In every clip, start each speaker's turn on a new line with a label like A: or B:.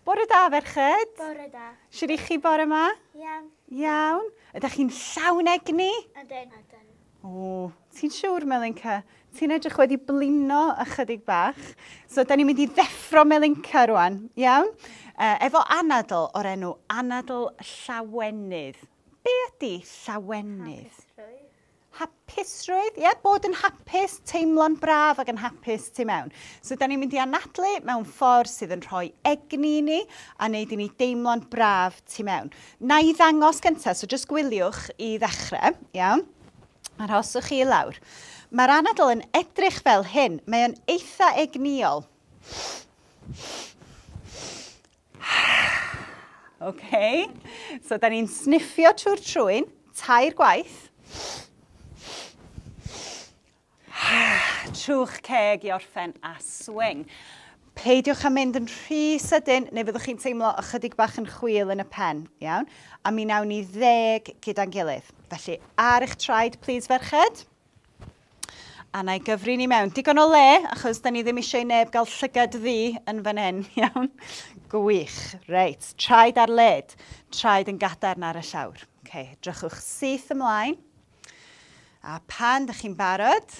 A: Bore da, ferched. Bore da. Siwr
B: i chi bore yma?
A: Iawn. Iawn. Ydych chi'n llawn egni? Ydyn. Ydyn.
B: O,
A: ti'n siwr, Melinca? Ti'n edrych wedi blino ychydig bach. So, da ni'n mynd i ddeffro Melinca rwan, iawn? E, efo anadl o'r enw anadl llawenydd. Be ydy llawenydd? Hapusrwydd. Hapusrwydd, ie, bod yn hapus, teimlo'n braf ac yn hapus tu mewn. So, da ni'n mynd i anadlu mewn ffordd sydd yn rhoi egni i ni a wneud i ni deimlo'n braf tu mewn. Na i ddangos gyntaf, so jyst gwyliwch i ddechrau, iawn? A rhoswch chi i lawr. Mae'r anadl yn edrych fel hyn. Mae o'n eitha egnïol. OK. So, da ni'n sniffio trwy'r trwyn, tair gwaith. Trwch ceg i orffen a swing. Peidiwch â mynd yn rhy sydyn neu fyddwch chi'n teimlo ychydig bach yn chwil yn y pen, iawn? A mi nawn ni ddeg gyda'n gilydd. Felly, ar eich traed, please, ferched. A na i gyfri ni mewn. Digon o le, achos da ni ddim eisiau i neb gael llygad ddi yn fan hyn, iawn? Gwych. Reit, traed ar led. Traed yn gadarn ar y llawr. Okay, drychwch syth ymlaen. A pan da chi'n barod,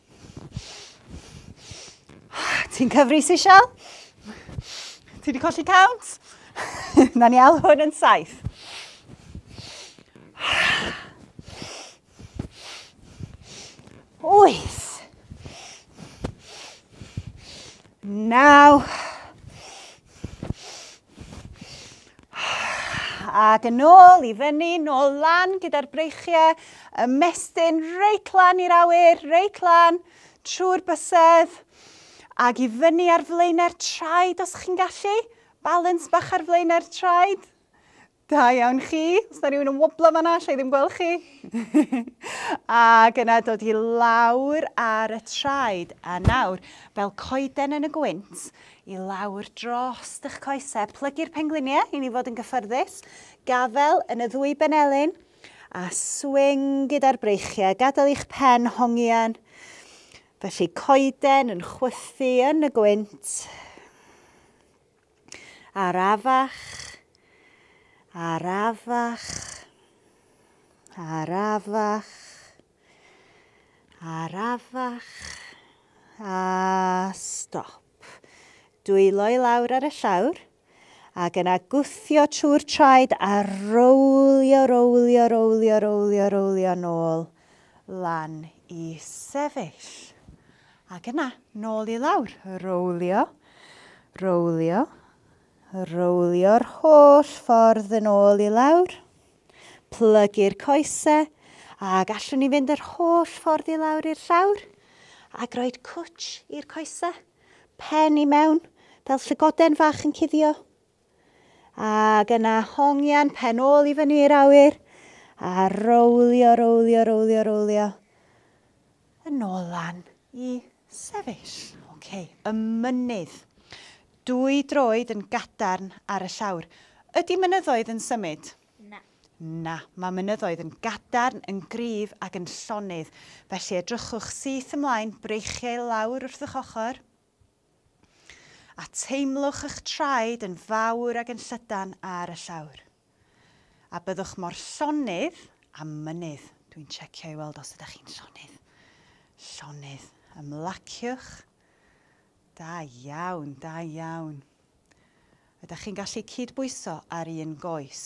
A: Ti'n cyfrisi, Sian? Ti wedi colli count? Na ni al hwn yn saith. Wyth. Naw. Ac yn ôl i fyny, nôl lan gyda'r breichiau, ymestyn reit lan i'r awyr, reit lan, trwy'r bysedd, ac i fyny ar flaenau'r traed os chi'n gallu. Balans bach ar flaenau'r traed. Da iawn chi. Os na rhywun yn woblo fanna, allai ddim gweld chi. Ac yna dod i lawr ar y traed. A nawr, fel coeden yn y gwynt, i lawr dros eich coesau. Plygu'r pengliniau i ni fod yn gyffyrddus. Gafel yn y ddwy benelin. A swing gyda'r breichiau. Gadael i'ch pen hongian. Felly coeden yn chwythu yn y gwynt. Arafach, arafach, arafach, arafach, a stop. Dwylo i lawr ar y llawr, ac yna gwthio trwy'r traed a rowlio, rowlio, rowlio, rowlio, rowlio nôl. lan i sefyll. Ac yna, nôl i lawr, rowlio, rowlio, rowlio'r holl ffordd yn ôl i lawr. Plygu'r coesau a gallwn ni fynd yr holl ffordd i lawr i'r llawr a groed cwtsh i'r coesau, pen i mewn fel llygoden fach yn cuddio. Ac yna hongian pen ôl i fyny i'r awyr a rowlio, rowlio, rowlio, rowlio. Yn ôl lan i sefyll. OK, y mynydd. Dwy droed yn gadarn ar y llawr. Ydy mynyddoedd yn symud? Na.
B: Na, mae
A: mynyddoedd yn gadarn, yn gryf ac yn llonydd. Felly edrychwch syth ymlaen, breichiau lawr wrth eich ochr. A teimlwch ych traed yn fawr ag yn llydan ar y llawr. A byddwch mor llonydd a mynydd. Dwi'n checio i weld os ydych chi'n llonydd. Llonydd. Ymlaciwch. Da iawn, da iawn. Ydych chi'n gallu cyd-bwyso ar un goes?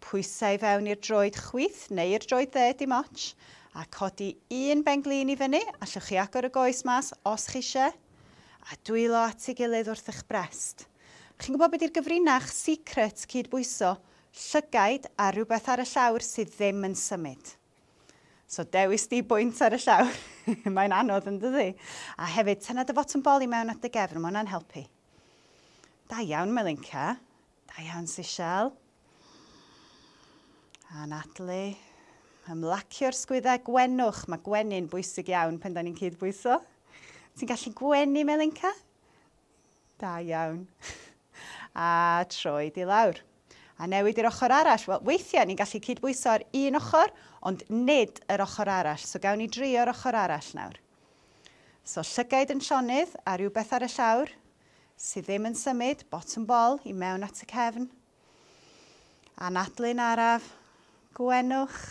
A: Pwysa i fewn i'r droed chwith neu'r droed dde, dim ots, a codi un ben-glin i fyny, allwch chi agor y goes mas os chi isie, a dwylo at ei gilydd wrth eich brest. Chi'n gwybod be di'r gyfrinach secret cyd-bwyso? Llygaid a rhywbeth ar y llawr sydd ddim yn symud. So dewis di bwynt ar y llawr, mae'n anodd yn dydi? A hefyd, tynna dy fotwm bol i mewn at dy gefn, mae hwnna'n helpu. Da iawn, Melinka. Da iawn, Sishal. A Natalie. Ymlacio'r sgwyddau gwenwch. Mae gwenu'n bwysig iawn pen da ni'n cydbwyso. Ti'n gallu gwenu, Melinka? Da iawn. A troi di lawr. A newid i'r ochr arall. Wel, weithiau ni'n gallu cydbwyso'r un ochr, ond nid yr ochr arall. So gawn ni drio'r ochr arall nawr. So llygaid yn llonydd a rhywbeth ar y llawr sydd ddim yn symud, bottom bol, i mewn at y cefn. Anadlu'n araf, gwenwch,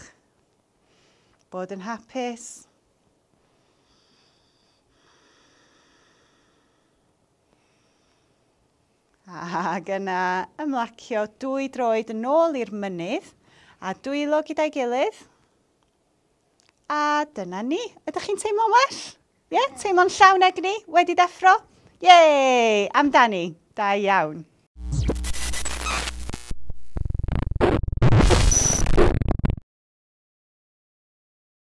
A: bod yn hapus. Ac yna ymlacio dwy droed yn ôl i'r mynydd a dwylo gyda'i gilydd. A dyna ni. Ydych chi'n teimlo'n well? Ie? Yeah? Teimlo'n llawn egni? Wedi deffro? Yay! Amdani. Da iawn.